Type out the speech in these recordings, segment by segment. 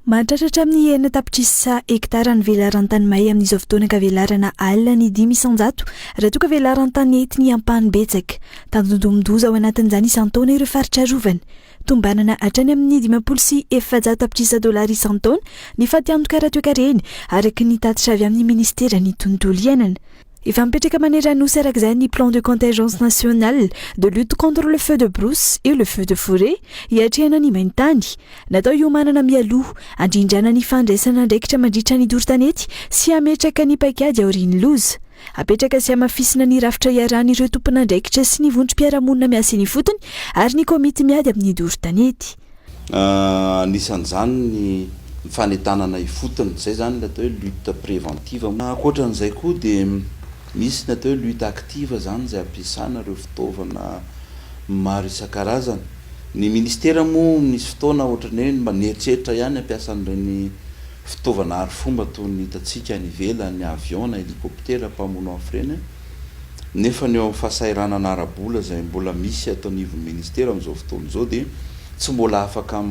Mahatratra hatramin'ny enina tapitrisa hektara ny velaran-tany may amin'izao fotoana ka velarana alina ny dimy isan-jato raha toa ka velaran-tany entiny ampahany betsaka. Tandindomin-doza ao anatin'izany isan-taona ireo faritra arovana. Tombanana hatrany amin'ny dimampolo sy efajato tapitrisa dolara isan-taona ny fatiantoka ara-toekarena, araka ny tatitra avy amin'ny Ministeran'ny Tontolo Iainana. Efa mipetraka manery Anosy araka izany ny Plan de contingence national de lutte contre le feu de brousse et le feu de forêt hiatrehana ny main-tany. Natao hiomanana mialoha, handrindrana ny fandraisana andraikitra mandritra ny doro tanety sy hametraka ny paikady aorian'ny loza. Hapetraka sy hamafisina ny rafitra iarahan'ireo tompon'andraikitra sy ny vondrom-piarahamonina miasa eny ifotony ary ny komity miady amin'ny doro tanety. Anisan'izany ny fanentanana ifotony, izay izany ilay atao hoe lutte préventive. Ankoatra an'izay koa dia misy ny atao hoe lutte active izany izay ampiasana ireo fitaovana maro isan-karazany. Ny ministera moa misy fotoana ohatran'ny hoe mba nieritreritra ihany hampiasa an'ireny fitaovana arifomba toy ny hitantsika any ivelany, avion na helicoptera mpamono afo ireny. nefa ny eo amin'ny fahasahiranana ara-bola izay mbola misy ato anivon'ny Ministera amin'izao fotoana izao dia tsy mbola afaka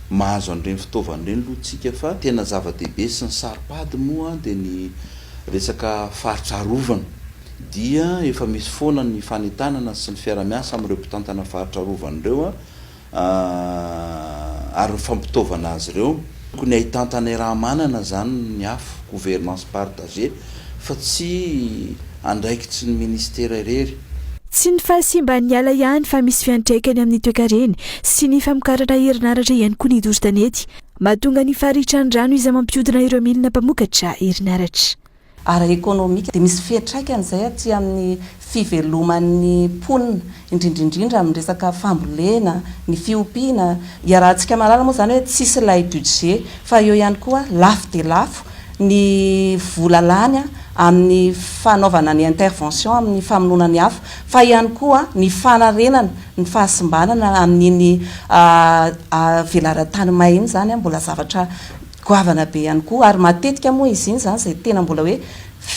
mahazo an'ireny fitaovana ireny aloha tsika fa tena zava-dehibe sy ny saro-pady moa dia ny resaka faritra arovana dia efa misy foana ny fanentanana sy ny fiara-miasa amin'ireo mpitantana faritra arovana ireo Aah ary ny fampitaovana azy ireo? Tokony ahitantana irahamanana izany ny afo, gouvernance partagée, fa tsy andraikitry ny ministera irery. Tsy ny fahasimban'ny ala ihany fa misy fiantraikany amin'ny toekareny sy ny famokarana herinaratra ihany koa ny doro tanety. Mahatonga ny faritran'ny rano izay mampiodina ireo milina mpamokatra herinaratra. ara-ekonomika dia misy fiantraikany izay aty amin'ny fiveloman'ny mponina, indrindra indrindra amin'ny resaka fambolena, ny fiompiana. Iarahantsika mahalala moa izany hoe tsisy ilay budget fa eo ihany koa lafo dia lafo ny vola lany amin'ny fanaovana ny intervention amin'ny famonoana ny afo fa ihany koa ny fanarenana ny fahasimbanana amin'iny velaran-tany may iny izany mbola zavatra Goavana be ihany koa, ary matetika moa izy iny izany izay tena mbola hoe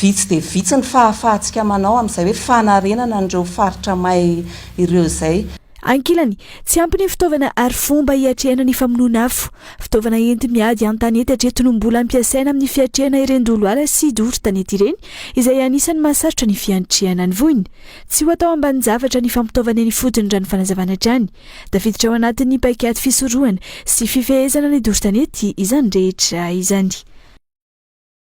vitsy dia vitsy ny fahafahantsika manao amin'izay hoe fanarenana an'ireo faritra may ireo izay. Ankilany, tsy ampy ny fitaovana ary fomba hiatrehana ny famonoana afo. Fitaovana enti-miady an-tanety hatreto no mbola ampiasaina amin'ny fiatrehana ireny doloala sy doro tanety ireny, izay anisan'ny mahasarotra ny fiantrehana ny voina. Tsy ho atao ambanin-javatra ny fampitaovana eny ifotony raha ny fanazavana hatrany. Tafiditra ao anatin'ny paikady fisorohana sy fifehezana ny doro tanety izany rehetra izany.